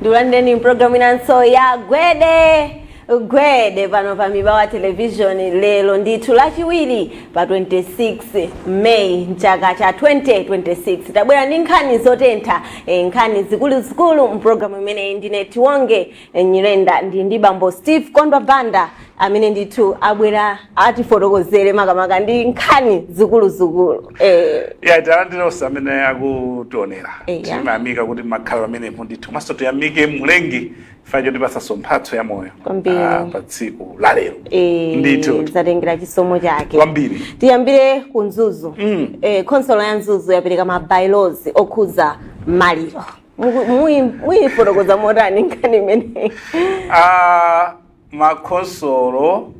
ndikulandireni mpulogalamu inanso ya gwede gwede pano pa mibawa television lero ndithu lachiwiri pa 26 may mchaka cha 2026 tabwera ndi nkhani zotentha eh, nkhani zikuluzikulu mpulogalamu imeneyi ndine tiwonge eh, nyirenda ndi ndi bambo steve kondwa banda amene ndithu abwera atifotokozere makamaka ndi nkhani zikuluzikulu eh. ya talandira onse amene akutionera Eya. timayamika kuti makhala pamenepo ndithu komanso tiyamike mlengi chifukwa chotipatsanso mphatso ya moyo Kwambiri. ah, pa tsiku la lero Eh, ndithu zatengera chisomo chake kwambiri tiyambire ku mzuzu Mm. eh, khonsolo ya mzuzu yapereka ma bylaws okhuza maliro Muku- muyi- muyifotokoza motani nkhani imeneyi Ah, makhonsolo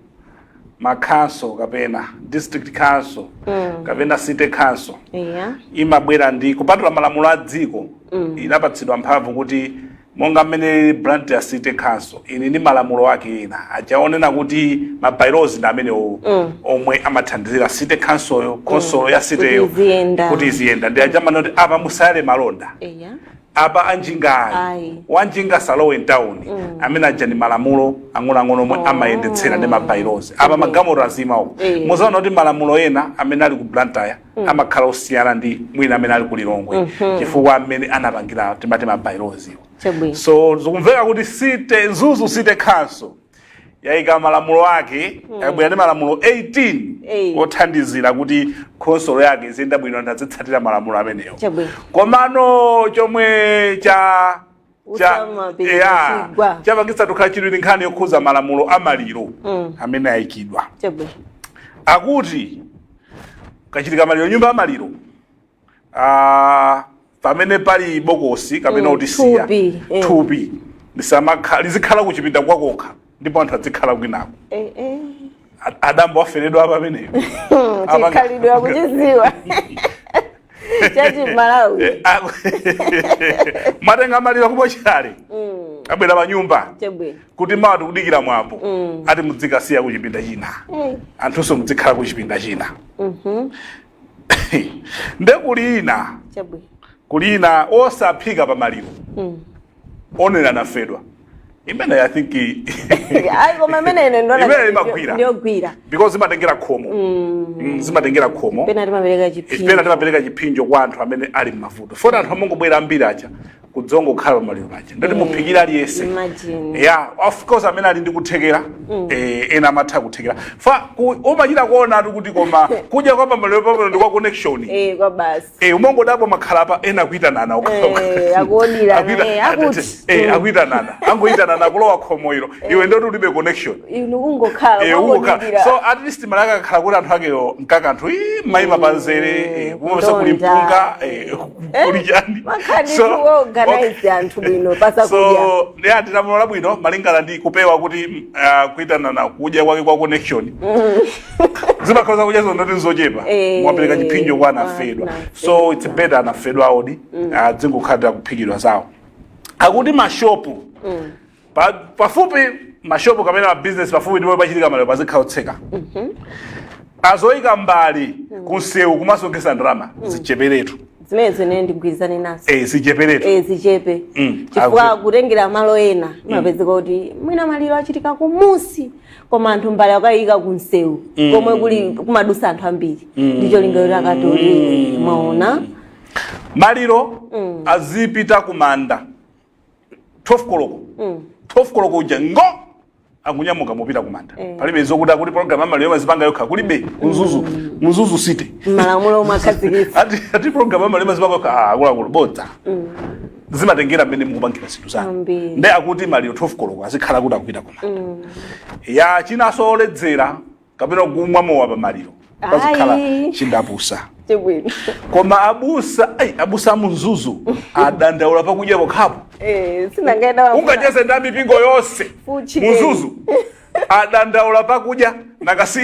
ma council kapena district council Mm. kapena city council Yeah. imabwera ndi kupatula malamulo a dziko Mm. inapatsidwa mphamvu kuti monga mmene blantyre city council ili ndi malamulo ake ena aja onena kuti ma bylaws ndi amenewo Mm. omwe amathandizira city councilyo khonsolo ya cityyo Kuti iziyenda. kuti iziyenda ndi aja amanena kuti apa musayale malonda Yeah. apa anjinga ayi Ayi. wanjinga asalowe mtawuni amene aja ndi malamulo ang'onoang'ono omwe amayendetsera ndi ma bylaws apa magamoro azima uko Eh. muzaona kuti malamulo ena amene ali ku blantyre amakhala osiyana ndi mwina amene ali ku lilongwe chifukwa amene anapangira timati ma bylaws wo Chabwino. so zikumveka kuti city mzuzu city council yaika malamulo ake yabwera ndi malamulo 18 Ei. othandizira kuti khonsolo yake iziyenda bwino anthu azitsatira malamulo amenewo Chabwino. komano chomwe cha cha Utamapita ya chigwa. chapangitsa tukhala chidwi ndi nkhani yokhuza malamulo a maliro Mm. amene ayikidwa chabwino akuti kukachitika maliro nyumba ya maliro ah, pamene pali bokosi kapena Mm, utisiya thupi, mm. thupi lisamakha- lizikhala kuchipinda kwakokha ndipo anthu adzikhala kwinako Eh, eh. A- adambo aferedwa apa ameneyo Apanga- chikhalidwe akuchidziwa chachimalawi Eh, ah, mwatenga maliro ku mochale abwera pa nyumba chabwino kuti mawa tikudikira mwambo ati mudzikasiya kuchipinda china Eh, anthunso mudzikhala kuchipinda china nde kuli ina chabwino kuli ina osaphika pa maliro Mm. onera anafedwa imene i think ayi koma imene ine ndona Imene imagwira. ndiyogwira because zimatengera khomo Mm, zimatengera khomo pena timapereka chiphinjo pena timapereka chiphinjo kwa anthu amene ali m'mavuto foti anthu amangobwera ambiri aja kudzangokhala pamaliro paja ndati muphikira aliyense Imagine. yeah of course amene ali ndi kuthekera eh, ena amatha kuthekera fa ku- umachita kuonatu kuti koma kudya kwa pamaliro pamene ndi kwa connection Eh, kwa basi. Eh, umangodabwa mwakhala apa ena akuitanana ukakhoka. Eh, akuodirana, Akuita- eh, akuti. eh, akuitanana angoitanana kulowa khomo ilo iwe ndoti ulibe connection Inu kungokhala. Eh, uko ka- kwangodikira. so at least malaka akakhala kuti anthu akewo mkakanthu mayima panzere eh, kumapeza kuli Ndonda. mpunga eh, ndi ati lamulo labwino malingana ndi kupewa kuti mm, ah, kuitanana kudya kwake kwa connection mm. zimakhala zakudya zoti nzochepa eh, mwapereka chiphinjo kwa anafedwa so its better anafedwa aodi mm. ah, dzingokhalira kuphikidwa zawo akuti mashopu Pa- pafupi mashopu kapena mabizinesi pafupi ndipo pachitika maliro pazikhala otseka zoyika mbale kunsewu kumasonkhetsa ndalama zicheperetu zimenezi ine ndigwirizane nazo eh, zicheperetu Eh, zichepe Mm, chifukwa akuti- kutengera malo ena mapezeka kuti mwina maliro achitika kumusi koma anthu mbale akayika kunsewu komwe kuli kumadutsa anthu ambiri ndi cholinga akatole mwaona maliro azipita kumanda 12 koloko 12 koloko uja ngo akunyamuka kupita kumanda palibe zokuti akuti program ya maliro imazipanga yokha kulibe ku Mzuzu Mzuzu city malamulo omwe akhazikitsa ati ati program ya maliro imazipanga yokha ah, akuluakulu bodza zimatengera mmene mukupangira zinthu zanu Ambiri. nde akuti maliro 12 koloko azikhala kuti akupita kumanda ya chinanso oledzera kapena kumwa mowa pamaliro pazikhala Ayi. chindapusa Chibwino. koma abusa ai, abusa a mu Mzuzu adandaula pakudya pokhapo Eh, sinangaenda wamuna. ungacheze nda mipingo yonse Fuchi mu Mzuzu adandaula pakudya nanga si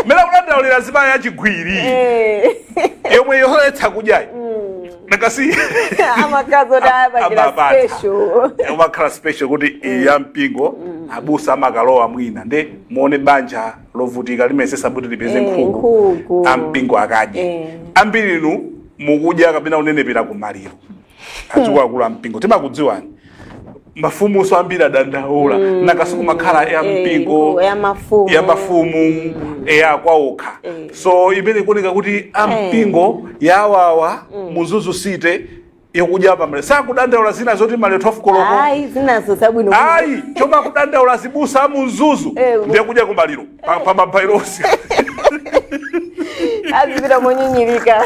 mera kudandaulira zimayi yachiwiri Eh, yomwe yoletsa kudyayi nanga si amakazi oti ayabakira Amabata. special. umakhala special kuti ya mpingo abusa amakalowa mwina nde muone banja lovutika limayesetsa kuti lipeze Eh, nkhuku nkhuku. ampingo akadye Eh. ambiri inu mukudya kapena kunenepera ku maliro akuluakulu ampingo timakudziwani mafumunso ambiri adandaula nanga si kumakhala ya Eh, mpingo nkhuku ya mafumu. ya mafumu ya kwaokha Eh. so imene ikuoneka kuti ampingo yawawa mu Mzuzu city yokudya pamaliro sakudandaula zina zoti maliro 12 koloko ayi zinazo zabwino ayi chomwe akudandaula azibusa a mu Mzuzu Eh, ndiye kudya kumaliro pa- pa ma by-laws azipita monyinyirika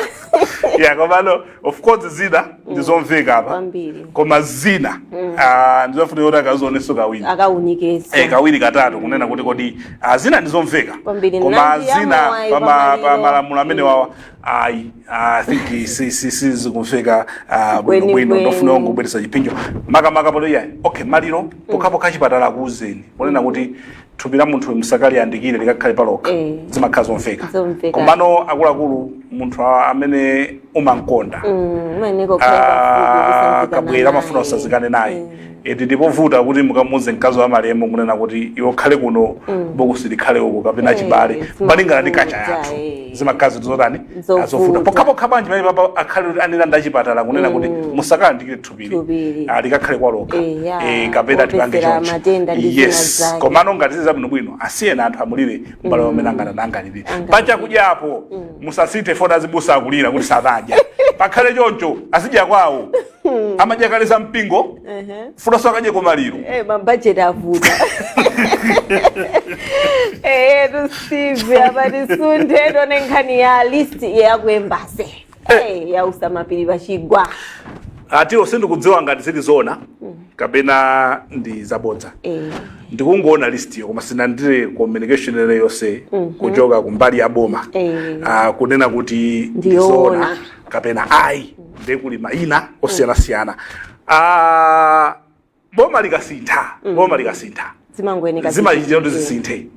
yeah komano of course zina ndizomveka apa Kwambiri. koma zina ah, ndizofunika kuti akazionenso kawiri akawunikenso Eh, kawiri katatu kunena kuti kodi ah, zina ndizomveka Kwambiri. koma Nanji zina amawayi pa ma- pamaliro. pa malamulo amenewawa ayi ah, i think eh, si- si- sizikumveka ah, Kweni bwinobwino kweni. ndifuna ndingobweresa chiphinjo makamaka ponena iyayi okay maliro pokhapokha chipatala akuuzeni kunena kuti thupi la munthu musakaliyandikire likakhale palokha Eh. zimakhala zomveka Zomveka. komano akuluakulu munthu a- amene umamukonda Mm, umayenera kukhala pafupi Ah, kusanzikana wabwera amafuna naye. asanzikane naye eti ndikovuta kuti mukamuuze mkazi wamalemu kunena kuti iwe ukhale kuno bokosi likhale uko kapena Eh, chibale zimavuta. malingana ndi kacha yathu Eh. zimakhala zotani Zovuta. azovuta pokhapokha bwanji pamenepapa akhale kuti anena ndi achipatala kunena kuti musakaliyandikire thupili Thupili. Ah, likakhale palokha Eh, ya. Eh, kapena tipange Wopezera choncho matenda ndi zina yes zake. komano ngati zili zabwinobwino asiyeni anthu amulire mbale wawo mmene angathe angalire Angalire. pachakudya apo musasinthe foni azibusa akulira kuti sadadya pakhale choncho azidya kwawo hmm. amadya kale za mpingo uh -huh. futa asakadye kumaliro hey, eh, mabajeti avuta eyetu eh, steve ati tisunthe tione nkhani ya list yaku embassy hey, ya kumapiri pachigwa ati sindikudziwa ngati zili zona mm. kapena ndi zabodza eh. ndikungoona list iyo koma sindinalandire communication ina iliyonse mm -hmm. kuchoka kumbali ya boma eh. uh, kunena kuti ndizona kapena ayi ndiye kuli mayina osiyanasiyana Ah, boma likasintha boma likasintha zimangoyeneka zimachitika kuti zisinthe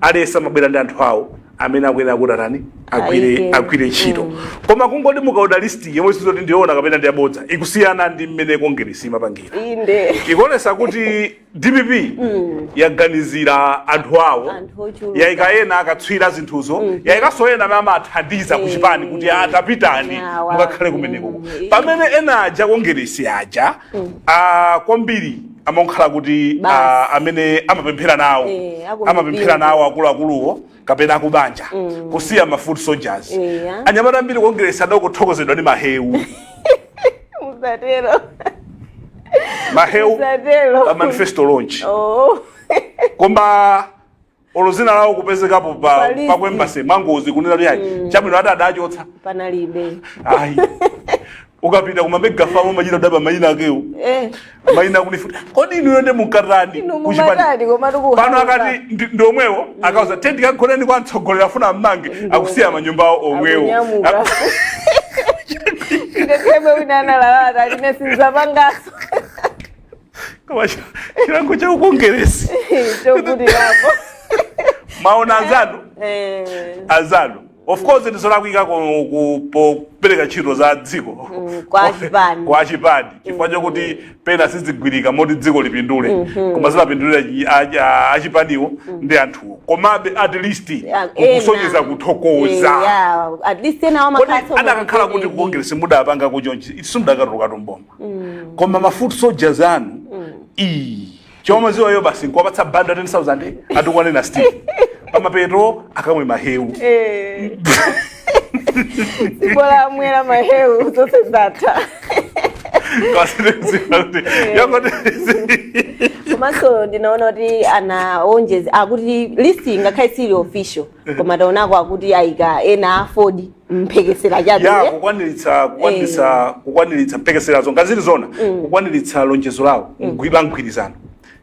aliyense amabwera ndi anthu awo amene akuyenera kuti atani agwire Ayike. agwire ntchito koma kungoti mukaona listi yomwe sizikuti ndiyoona kapena ndiyabodza ikusiyana ndi mmene kongeresi imapangira inde ikuonesa kuti dpp yaganizira anthu awo Anthu ochuluka. yaika ena akatswira a zinthuzo yaikanso ena amene amathandiza ku chipani kuti ah pitani Awa. mukakhale kumeneko Mm. pamene ena aja kongeresi aja ah, kwambiri amakhala kuti Basi. ah, amene amapemphera nawo Eh, akumipingo. amapemphera nawo akuluakuluwo kapena akubanja mm. kusiya ma foot soldiers yeah. anyamata ambiri kongeresi adangothokozedwa ndi mahewu mahewu pa manifesto launch oh. koma olo dzina lawo kupezekapo pa pa ku embassy amangodzikunena kuti ayi mm. chabwino ati adachotsa panalibe ayi ukapita kuma mega farm umachita kudabwa maina akewo eh maina kunifuta kodi inuyo nde mukutani Inu kuchipani- mumatani, koma tikuhamba. pano akati ndi- ndi omwewo akauza tendi kagoneni kwa mtsogoleri afuna mmange akusiya manyumba awo omwewo Akunyamuka. Aku- nde pomwe wina analalata ali ine sinzapangaso Koma chi- chilango cha ukongeresi chokuti apo umaona azanu Eh. azanu of course ndizolakwika ku- ku- popereka ntchito za dziko Mm, kwa achipani. kwa achipani chifukwa chakuti pena sizigwirika moti dziko lipindule koma zimapindulira chi- a- a- achipaniwo ndi anthuwo komabe at least Yeah, kukusonyeza ena. kuthokoza Eh, yeah, at least ena kodi wamakhaso adakakhala kuti ku congress mudapanga chonchi simudakatuluka m'boma koma ma foot soldiers anu ii chomwe amadziwa iwo basi nkuwapatsa bundle ya 10000 atukwane a Steve pamapeto akamwe mahewu Eh. Si bola amwera mahewu zonse zatha. kawasinekuziva kuti yangoti komanso ndinaona kuti anawonjeza akuti list ngakhale sili official koma taonako akuti ayika ena a AFORD mphekesera chabe ya eh? kukwaniritsa kukwaniritsa kukwaniritsa mphekeserazo ngati zili zona kukwaniritsa lonjezo lawo mgwiba mgwirizano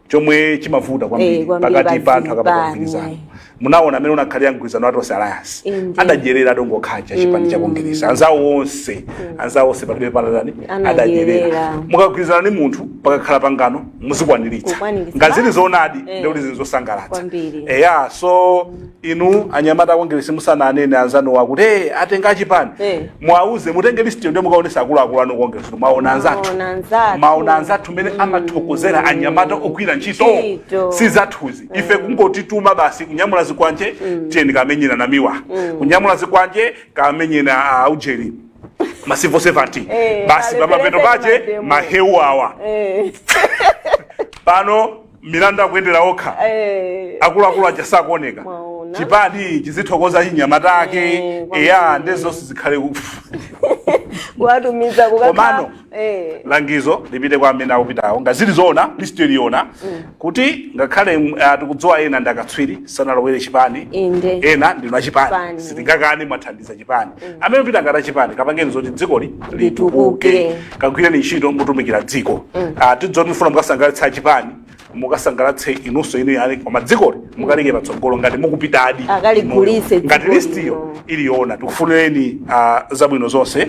chomwe chimavuta Eh, kwambiri pakati pa anthu akapanga pazipani. mgwirizano munaona mmene unakhalira mgwirizano wa tonse alliance Indeed. adadyerera okhaokha a chipani cha kongeresi anzawo onse anzawo onse palibe anatani Anadyerera. adadyerera mukagwirizana ndi munthu pakakhala pangano muzikwaniritsa Kukwaniritsa. ngati zili zoonadi Eh. ndikuti zili zosangalatsa Kwambiri. eya so inu anyamata a kongeresi musamanene anzanuwo akuti hey, atenga achipani Eh. muwauze mutenge listiyo ndiye mukaonesa akuluakulu anu ku kongeresi kuti mwaona anzathu Mwaona anzathu. maona anzathu mmene amathokozera anyamata ogwira ntchito Ntchito. si zathuzi ife kungotituma basi kunyamula zikwanje tiyeni kamenyeni Namiwa kunyamula zikwanje kamenyeni aujeni masivo 70 Eh, basi pamapeto alepereke pake mademo. mahewu awa Eh. pano milandu akuyendera okha Eh, akuluakulu aja sakuoneka Mwaona. chipani chizithokoza anyamata ake Eh, kwambiri. eya nde zonse zikhale ku- kuwatumiza kukakhala- Komano. Eh, langizo lipite kwa amene akupitawo ngati zili zoona list ili yoona kuti ngakhale mm, ah, tikudziwa ena ndi akatswiri sanalowere chipani Inde. ena ndinu achipani Chipani. sitingakane mwathandiza chipani amene mukupita ngati achipani kapangeni zoti dzikoli litukuke Litukuke. kagwireni ntchito mutumikire dziko Ah, tidziwe kuti mufuna mukasangalatse achipani mukasangalatse inunso inu yale koma dzikoli mukaliike patsogolo ngati mukupitadi Akaligulitse inuyo. ngati dzikoli. listiyo ili yoona tikufunireni ah, zabwino zonse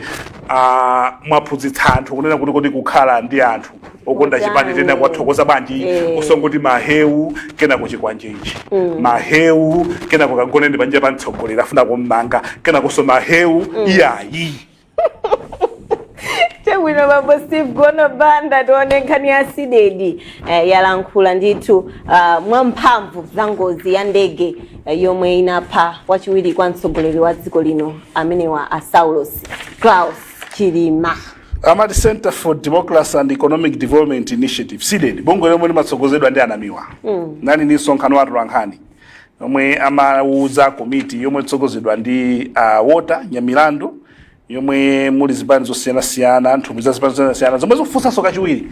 Ah, mwaphunzitsa anthu kunena kuti kodi kukhala ndi anthu okonda Kutani. chipani titha kuwathokoza bwanji Eh. osangoti mahewu kenako chikwanje ichi mahewu kenako kagoneni panja pa mtsogoleri afuna kummanga kenakonso mahewu iyayi chabwino bambo steve gono banda tione nkhani ya CDEDI eh, yalankhula ndithu uh, mwamphamvu za ngozi ya ndege eh, yomwe inapha wachiwiri kwa mtsogoleri wa dziko lino amenewa a saulos klaus chilima amati centre for democracy and economic development initiatives CDEDI bungwe lomwe limatsogozedwa ndi a Namiwa mm. anali ndi msonkhano wa atolankhani omwe amauza komiti yomwe ikutsogozedwa ndi a Walter Nyamilandu yomwe muli zipani zosiyanasiyana nthumwi za zipani zosiyanasiyana zomwe zikufunsanso kachiwiri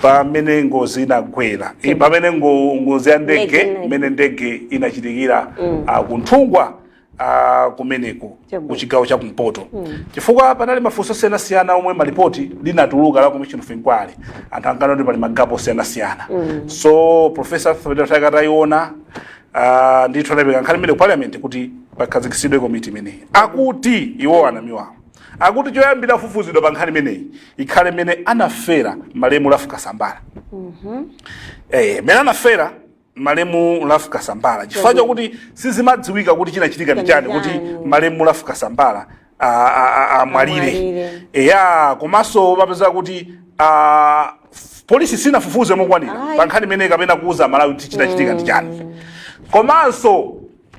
pamene ngozi inagwera Eh, pomwe ngo- ngozi ya ndege Ndege. mmene ndege inachitikira ah, ku Nthungwa ah, kumeneko Chabwino. ku chigawo cha kumpoto chifukwa panali mafunso osiyanasiyana omwe mu lipoti linatuluka la commission of inquiry anthu ankanena kuti pali magapo osiyanasiyana so professor Mutharika atayiona uh, ndithu anapereka nkhani imeneyi ku parliament kuti pakhazikitsidwe komiti imeneyi akuti iwo anamiwawo akuti choyambira kufufuzidwa pa nkhani imeneyi ikhale mmene anafera malemu Ralph Kasambala eh, mene anafera malemu Ralph Kasambala chifukwa chakuti sizimadziwika kuti chinachitika ndi chani kuti Chani. malemu Ralph Kasambala a- a- a- amwalire Amwalire. eya komanso apeza kuti a, f- polisi sinafufuze mokwanira Ayi. pa nkhani imeneyi kapena kuuza aMalawi kuti chinachitika ndi chani komanso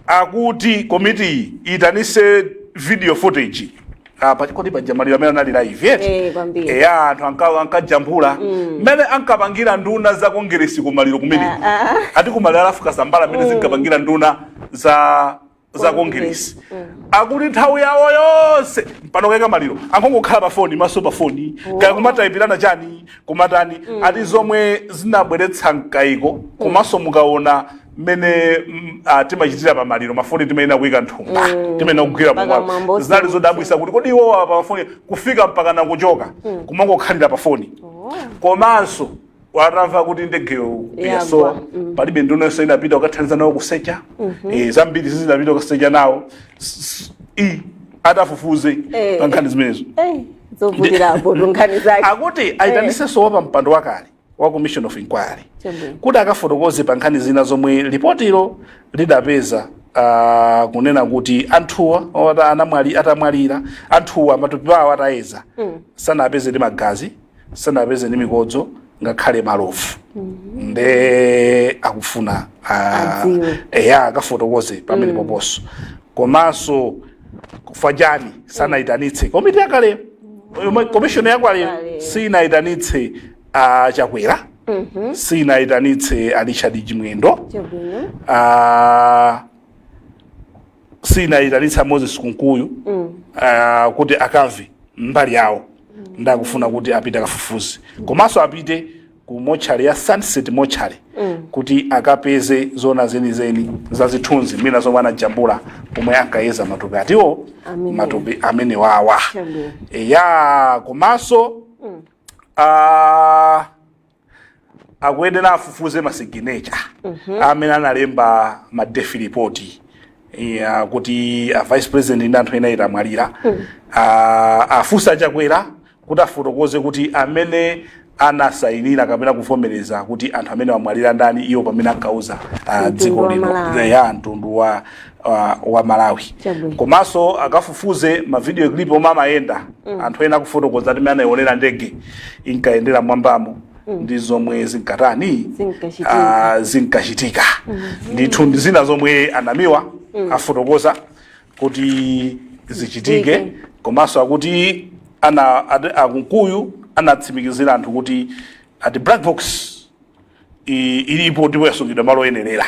akuti komitiyi iyitanise video footage pachifukwa choti paja maliro amene anali live yet Eh, kwambiri. eya anthu anka- ankajambula mmene ankapangira nduna za kongeresi kumaliro kumeneko ati kumaliro a Ralph Kasambala mmene zinkapangira nduna za za kongeresi akuti nthawi yawo yonse mpaka poika maliro ankongokhala pa foni maso pa foni kaya kumatayipirana chani kumatani ati zomwe zinabweretsa mkayiko komanso mukaona mmene mm, ah, timachitira pa maliro mafoni timayenera kuika mthumba timayenera kugwira Mpaka pamwamba mwambo zinali usiku. zodabwisa kuti kodi iwowa pa mafoni kufika mpaka nakuchoka kumangokhalira pa foni komanso atamva kuti ndegeyo Yagwa. yasowa palibe nduna yonse inapita ukathandiza nawo kusecha Eh, zambiri sizinapite ukasecha nawo S- s- i atafufuze Eh. pa nkhani zimenezo Eh, zovutirapo tu nkhani zake akuti aitanitsenso wapampando wakale wa commission of inquiry Chabwino. kuti akafotokoze pa nkhani zina zomwe lipotilo lidapeza uh, kunena kuti anthuwa ota anamwali atamwalira anthuwa matupi awo atayeza mm. sanapeze ndi magazi sanapeze ndi mikodzo ngakhale malovu mm-hmm. nde akufuna uh, Adziwe. eya akafotokoze pamene mm. pomponso komanso chifukwa chani sanaitanitse komiti yakaleyo Yomwe komishoni yakaleyo Yakale. sinayitanitse ah, Chakwera sinayitanitse a Richard Chimwendo chabwino Ah, sinayitanitse Moses Kunkuyu ah, kuti akamve mbali yawo nde akufuna kuti apite akafufuze komanso apite ku mochale ya sunset mochale kuti akapeze zona zenizeni za zithunzi mwina zomwe anajambula pomwe ankayeza matupi athuwo Amene. matupi amenewawa Chabwino. eya komanso ah, akuyenera afufuze masiginecha amene analemba ma death report ya kuti a vice president ndi anthu ena atamwalira Ah, afunse achakwera kuti afotokoze kuti amene anasayinira kapena kuvomereza kuti anthu amenewa amwalira ndani iwo pamene ankauza ah, Mtundu dziko wa lino Malawi. ya mtundu wa, wa, wa malawi Chabwino. komanso akafufuze mavidiyo clip omwe amayenda anthu ena akufotokoza kuti mmene anaionera ndege inkayendera m'mwambamo ndi zomwe zinkatani Zinkachitika. ah, zinkachitika ndithu ndi zina zomwe anamiwa afotokoza kuti zichitike komanso akuti ana ati- akunkuyu anatsimikizira anthu kuti ati black box i- ilipo ndipo yasungidwa malo oyenerera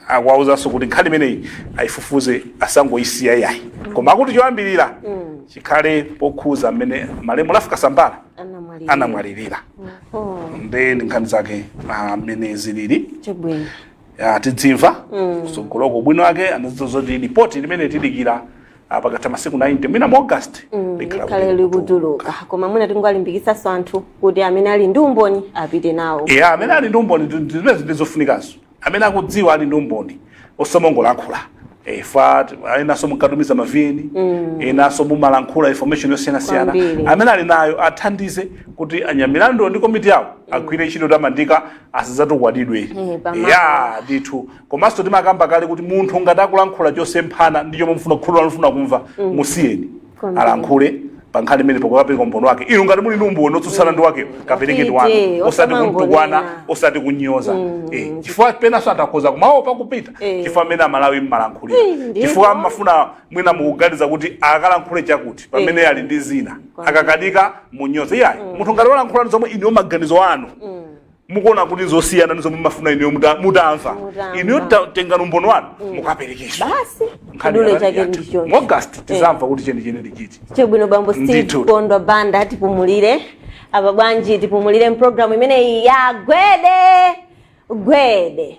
akuwauzanso kuti nkhani imeneyi ayifufuze asangoyisiya yayi koma akuti choyambirira chikhale pokhuza mmene malemu ralph kasambara anamwalirira nde ndi nkhani zake mmene zilili chabwino ya tidzimva kusogoloko ubwino wake anadziwa zoti lipoti limene tidikira ah, pakatha masiku 90 mwina mu august likhala kuti likhale likutuluka koma mwina tingalimbikitsenso anthu kuti amene ali ndi umboni apite nawo e amene ali ndi umboni ndi- ndi zimene zimene zofunikazo amene akudziwa ali ndi umboni osamangolankhula e, fa enanso munkatumiza ma vn enanso mumalankhula information yosiyanasiyana Kwambiri. amene ali nayo athandize kuti anyamilandu ndi komiti yawo agwire ntchito yotamandika asadzatukwanidwe Eh, pamalo. ya ndithu komanso timakamba kale kuti munthu ngati akulankhula chosemphana ndi chomwe mfuna khulu lanufuna kumva musiyeni Kwambiri. alankhule pankhani imeneyi pokapereka umboni wake inu ngati muli ndi umboni otsutsana ndi wakewo kaperekeni Ufite, wanu osati osamangonena. kumtukwana osati kunyoza Eh, chifukwa penanso atha kukhoza kumaopa kupita Eh. chifukwa cha mmene amalawi mmalankhulira Eh, ndipo. chifukwa mmafuna mwina mukuganiza kuti akalankhule chakuti pamene ali ndi zina Kwambiri. akakanika munyoze yayi mm. munthu ngati walankhula zomwe inuyo maganizo anu mm. mukuona kuti zosiyana ni zomwe mumafuna inuyo muta- mutamva Mutamva. inuyo ta- tengani umboni wanu mukapereke basi Nkhani chidule ya- chake ya- ndicho mu August tidzamva kuti chenicheni ndichiti chabwino bambo steve Ndithu. kondwa banda tipumulire apa bwanji tipumulire mpulogalamu imeneyi ya gwede gwede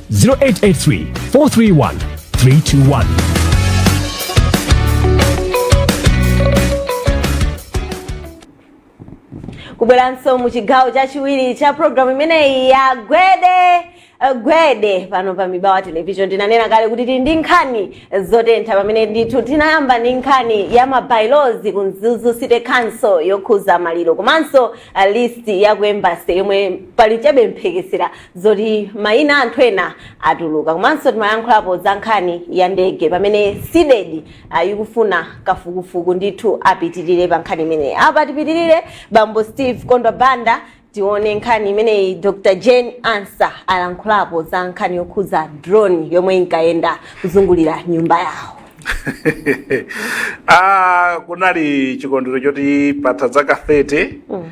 0883 431 321. kubweranso mu chigawo chachiwiri cha programu imeneyi ya gwede eh, gwede pano pa mibawa television tinanena kale kuti tili ndi nkhani zotentha pamene ndithu tinayamba ndi nkhani ya mabailozi ku mzuzu city council yokhuza maliro komanso eh, list ya ku embassy yomwe pali chabe mphekesera zoti mayina a anthu ena atuluka komanso timayankhulapo za nkhani ya ndege pamene CDEDI uh, ikufuna kafukufuku ndithu apitirire pa nkhani imeneyi apa tipitirire bambo steve kondwa banda tione nkhani imeneyi dr jane ansah alankhulapo za nkhani yokhudza drone yomwe inkayenda kuzungulira nyumba yawo ah, kunali chikondwero choti patha zaka 30 mm.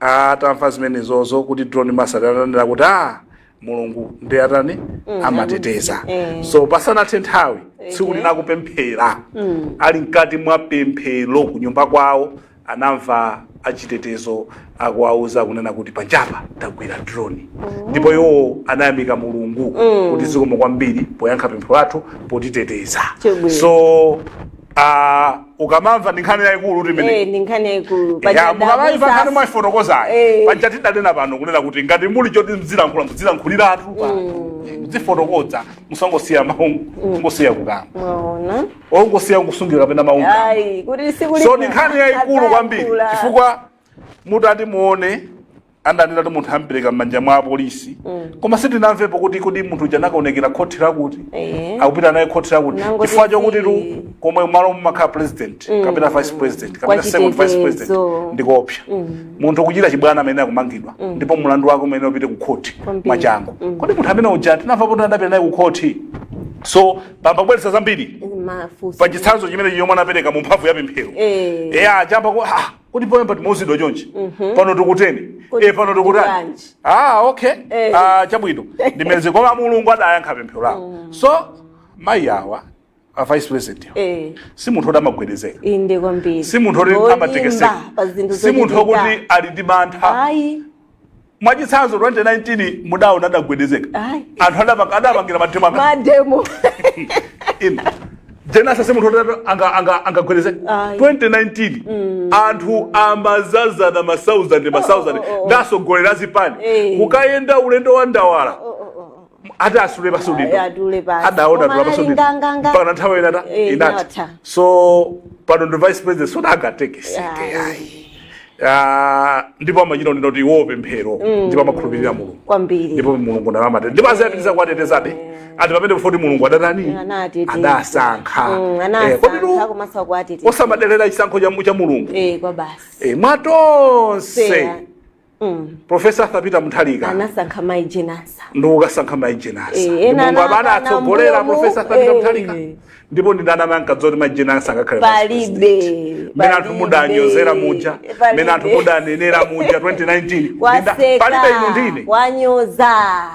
atamva zimene zozo kuti drone master ananena kuti a mulungu ndi atani amateteza eh. so pasanathe nthawi tsiku Okay. lina akupemphera ali mkati mwa pemphero ku nyumba kwawo anamva achitetezo akuwauza kunena kuti panjapa tagwira drone ndipo iwo anayamika mulungu kuti zikomo kwambiri poyankha pemphero lathu potiteteza Chabwino. so ah, ukamamva ndi nkhani yayikulu kuti imene Eh, ndi nkhani yayikulu Ya, mukamaimva nkhani mwayifotokozayo Eh. paja tidanena pano kunena kuti ngati muli choti mzilankhula muzilankhuliratu muzifotokoza musangosiya mawu ngosiya kukamba mwaona ongosiya kusungira kapena mawu ayi kuti sikuli so ndi nkhani yayikulu kwambiri chifukwa mutati muone adanena kuti munthu ampereka m'manja mwa apolisi koma sitinamvepo kuti kodi munthu uja anakaonekera khoti la kuti Ehe. akupita naye khoti la kuti Nangoti chifukwa chokuti tu zi- komwe malo mumakhala president kapena vice president kapena Kwa second vice president chitetezo. ndikopsa munthu kuchita chibwana amene akumangidwa ndipo mulandu wake umene upite ku khoti Kwambiri. mwachangu kodi munthu amene uja tinamva kuti adapita naye ku khoti so pambabweretsa zambiri mafunso pa chitsanzo chimenechi yomwe anapereka mu mphamvu ya pemphero Eh. eya achamba ku ah, kodi poyamba timauzidwa chonchi pano tikuteni Mhm. Kodi e pano tikutani tikutani? ah okay Eh. Mm. ah chabwino ndimeza koma mulungu adayankha pemphero lawo so mayi awa a vice president awa, eh si munthu oti amagwedezeka inde kwambiri si munthu oti Wolimba amatekeseka pa zinthu si munthu zochitika. okuti ali ndi mantha ayi Mwachitsanzo 2019 mudaona adagwedezeka. Ayi. Anthu adapanga adapangira mademo aka. mademo Inu. Jane Ansah si munthu oti atu anga anga angagwedezeka. Ayi. 2019 anthu amadzadzana ma 1000 ma 1000 oh, oh. ndi atsogoleri a zipani. Eh. Kukayenda ulendo wa ndawala. ati atule basi Ayi, udindo atule basi. adaona Koma tula basi anali udindo nganganga. mpaka na nthawi ina ta- Eh, inatha inatha. so pano ndi vice president so sangatekeseke Ayi. ayi Ah, ndipo amachita kunena kuti iwo pemphero ndipo amakhulupirira mulungu kwambiri ndipo mulungu naye amawateteza ndipo azapitiriza kuwatetezabe ati pamene pofoti mulungu adatani anateteza adasankha Mm, Eh, anasankha kotero komanso kuwateteza osamadelera chisankho cha mu- cha mulungu eh kwa basi Eh, mwa tonse Seya. profesa arthur peter mutharika anasankha mayi jane ansah ndi kukasankha mayi jane ansah Eh, ndi ena mulungu amene anawatsogolera mbuyomu, profesa arthur peter eh. mutharika ndipo ndi ndani amene ankadziwa kuti mayi jane ansah angakhale vice president? palibe mmene anthu palibe, mudanyozera muja palibe. mmene anthu mudanenera muja 2019 Ndinda- waseka palibe inu ndi ine wanyoza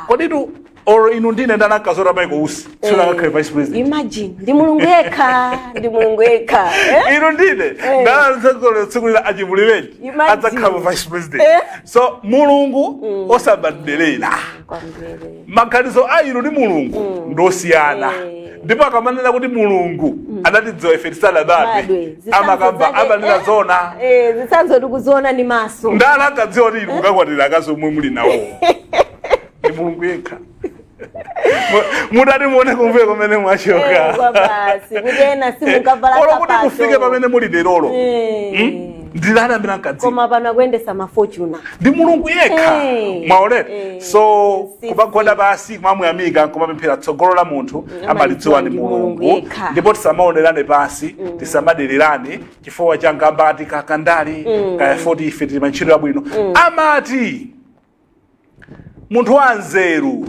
koditu or inu ndi ine ndani ankadziwa kuti michael usi tsiku lina angakhale vice president imagine ndi mulungu yekha ndi mulungu yekha eh? inu ndi ine Eh. ndani ankadziwa kuti tsiku lina a chimulirenji Imagine. adzakhala vice president Eh. so mulungu osamadelera kwambiri maganizo a inu ndi mulungu ndosiyana Eh. ndipo akamanena kuti mulungu anatidziwa ife tisadabadwe badwe amakamba amanena zona zitsanzo tikuziona ndi maso ndani ankadziwa kuti inu mukakwatira akazi omwe muli nawo ndi mulungu yekha Mu- mutati muone kumbuyo kumene mwachoka Eh, kwa basi kuti ena simunkavala olo kuti sapato. mufike pamene muli lerolo Eh. ndi ndani amene ankadziwa koma pano akuyendetsa ma fortuner ndi mulungu yekha Eh. mwaonera Eh. so Si- kumagwada pansi kumamuyamika kumapemphera tsogolo la munthu amalidziwa ndi ndi Mulungu mulungu yekha. ndipo tisamaonerane pansi tisamadererane chifukwa cha ngambati kakandali kaya foti ife tili pa ntchito yabwino amati munthu wanzeru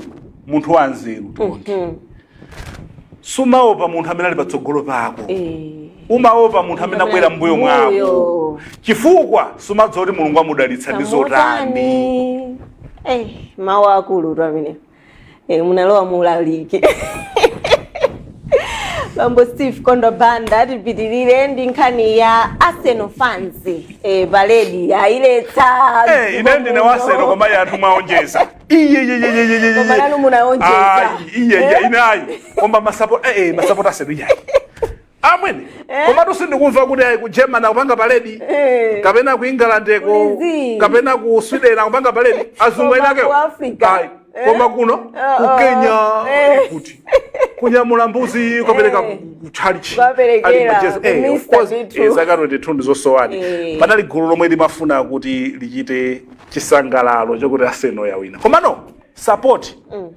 munthu wanzeru tonti sumaopa munthu amene ali patsogolo pako Eh. umaopa munthu amene abwera mbuyo mwako Mbuyo. chifukwa sumadziwa kuti mulungu amudalitsa ndi zotani Tamotani. Eh, mawu akulutu amene e, munalowa muulaliki bambo steve kondo banda tipitirire ndi nkhani ya arsenal fans e, parade ayiletsa Eh, ine ndine wa arsenal koma anthu mwaonjeza Koma nanu munaonjeza. iyeya inayi koma masapota eh, eh, masapota a arsenal iyayi amwene eh? komatu sindikumva kuti ayi ku germany akupanga parade eh. kapena ku england ko kapena ku sweden akupanga parade azungu eni akewo eh? koma kuno uh -oh. ku kenya eh. kuti kunyamula mbuzi kukapereka eh. kuchalichi zaka 22 ndizosowani eh. panali gulu lomwe limafuna kuti lichite chisangalalo chakuti arsenal yawina komano sapoti mm.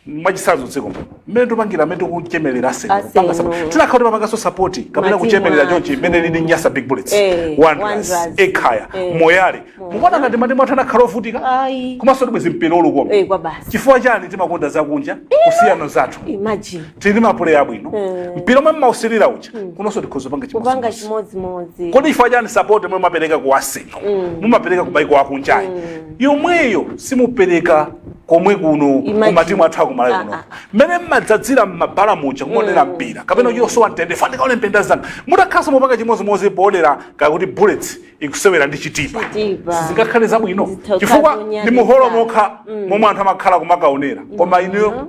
mwachitsanzo mdziko muno mmene tikupangira mmene tikuchemerera Arsenal, Arsenal. kupanga support. tinakakhala kuti timapanganso sapoti kapena Matimu kuchemerera athu. chonchi mmene lili nyasa big bullets Eh, wanderers Wanderers. ekhaya Eh. moyale mukuona ngati matimu athu anakakhala ovutika Ayi. komanso sibwenzi mpira ukukoma Eh, kwa basi. chifukwa chani timakonda zakunja kusiya zathu imagine tili ndi mapuleya abwino mpira omwe mumausilira uja kunonso tikhoza panga kupanga chimodzimodzi chimodzimodzi kodi chifukwa chani sapoti omwe mumapereka ku arsenal mumapereka ku maiko akunjayo yomweyo simupereka komwe kuno Imagine. kumatimu athu akumalawi kuno Ah, mmene mumadzadzira mmabala muja kumaonera mpira kapena yosowa mtendere ndikaone mpira anzanu mutakhalanso mukupanga chimodzimodzi poonera kuti bullets ikusewera ndi chitipa Chitipa. sizingakhale zabwino Zitha- chifukwa zonyaditsa. ndi muholo mokha momwe anthu amakhala kumakaonera koma inuyo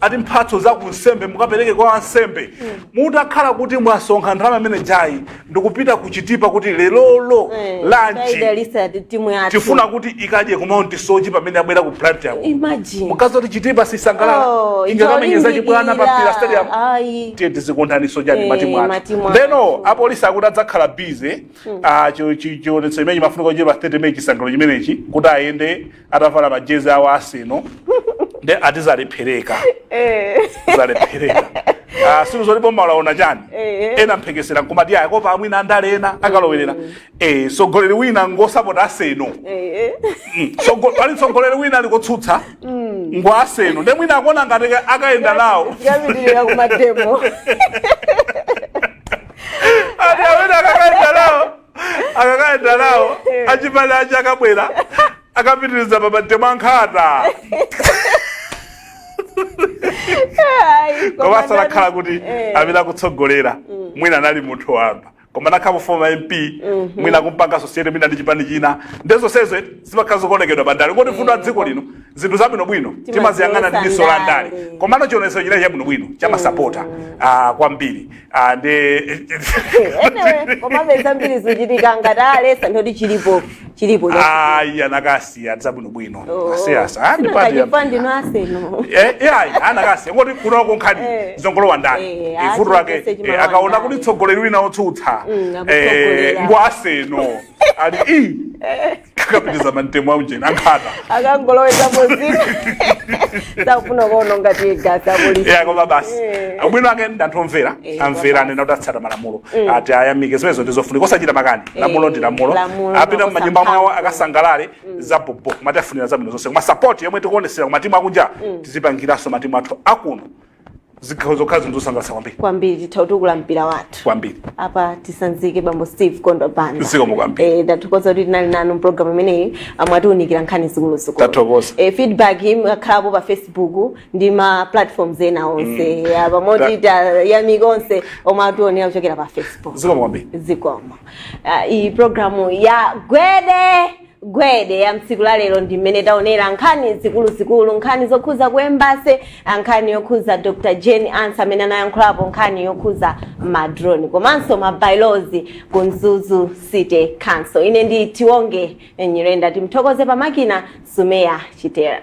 ati mphatso za kunsembe mukapereke kwa ansembe mutakhala kuti mwasonkha ndalama imene ijayi ndikupita kuchitipa kuti lerolo Eh, lanchi taidalitsa ti- timu yathu tifuna kuti ikadye ku mount soche pamene abwera ku plant yako imagine mukuti zoti chitipa sisangalala Oh, ingakamenyeza itaolimbikira. chibwana pa mpira stadium Ayi. tiye tizikondanso chani Eh, matimu athu matimu athu. ndeno apolisi akuti adzakhala bize chionetsero chimene chimafunika kuchitika pa 30 meyi chisangalalo chimenechi kuti ayende atavala majezi awo a Arsenal nde ati zalephereka Eh. zalephereka Ah, si nde zoti boma laona chani Eh. ena mphekesera nkumati ayi akuopa mwina andale ena akalowerera eh, mtsogoleri wina ngosapota aseno Eh. Mm, sogo- pali mtsogoleri wina aliko otsutsa ngwa aseno nde mwina akuona ngati ka- akayenda nawo Yapitilira kumademo. ati amene akakayenda nawo akakayenda nawo achipani achi akabwera akapitirizapo mademo ankhata Ai, koma komanso ndani- anakhala kuti Eh. amene akutsogolera mwina anali munthu wamba koma anakhala foma mp mwina kumpanga asosiyeti mwina ndi chipani china nde zonsezo zimakhala zokonekitidwa pandale ngoti vuto la dziko lino zinthu zabwinobwino timaziyang'ana ndi diso la ndale ndale. komano chionetsero chijayi chabwinobwino chamasapota ah, kwambiri Ah, ndi Anyway, komabe zambiri zikuchitika ngati aletsa ndoti chilipo chilipo cha- ayi anakasiya zabwinobwino Oh. asiyasa Sina kachipandi no aseno. ai anakasiya ngoti kuno nkhani Eh. zongolowa ndale Eh, Eh, vuto lake asiyese chimalo eh, akaona ndale. kuti mtsogoleri wina otsutsa Mm, eh, akutsogolera. ngwa aseno ali i akakapitiriza mademo aujeni ankhata akangoloweka muzina sakufuna kuona ma tiyagasi apolisi ya koma basi Eh. ubwino wake ndi anthu omvera Eh, amvera anena kuti atsata malamulo tiwayamike zimenezo ndizofunika osachita makani lamulo ndi lamulo lamulo, apita lamulo mumanyumba mwawo samphamvu. akasangalale zabobo koma tiwafunira zabwino zonse koma sapoti yomwe tikuonetsera kumatimu akunja tizipangiranso matimu athu akuno zikhozano kukhala zinthu zosangalatsa kwambiri kwambiri titati tatukula mpira wathu kwambiri apa tisanzike bambo steve Kondwa Banda Zikomo kwambiri. Eh, ndathokoza kuti tinali nanu mpulogalamu imeneyi momwe atiunikira nkhani zikuluzikulu Tathokoza. Eh, feedback imakhalapo pa facebook ndi ma platforms ena onse mm. apa moti tayamika onse omwe ationera kuchokera pa facebook zikomo kwambiri zikomo uh, iyi programu ya gwede gwede ya mtsiku la lero ndi mmene taonera nkhani zikuluzikulu nkhani zokhuza ku embassy nkhani yokhuza dr jane ansah amene anayankhulapo nkhani yokhuza madrone komanso mabylaws ku mzuzu city council ine ndi tiwonge nyirenda timthokoze pamakina sumeya chitera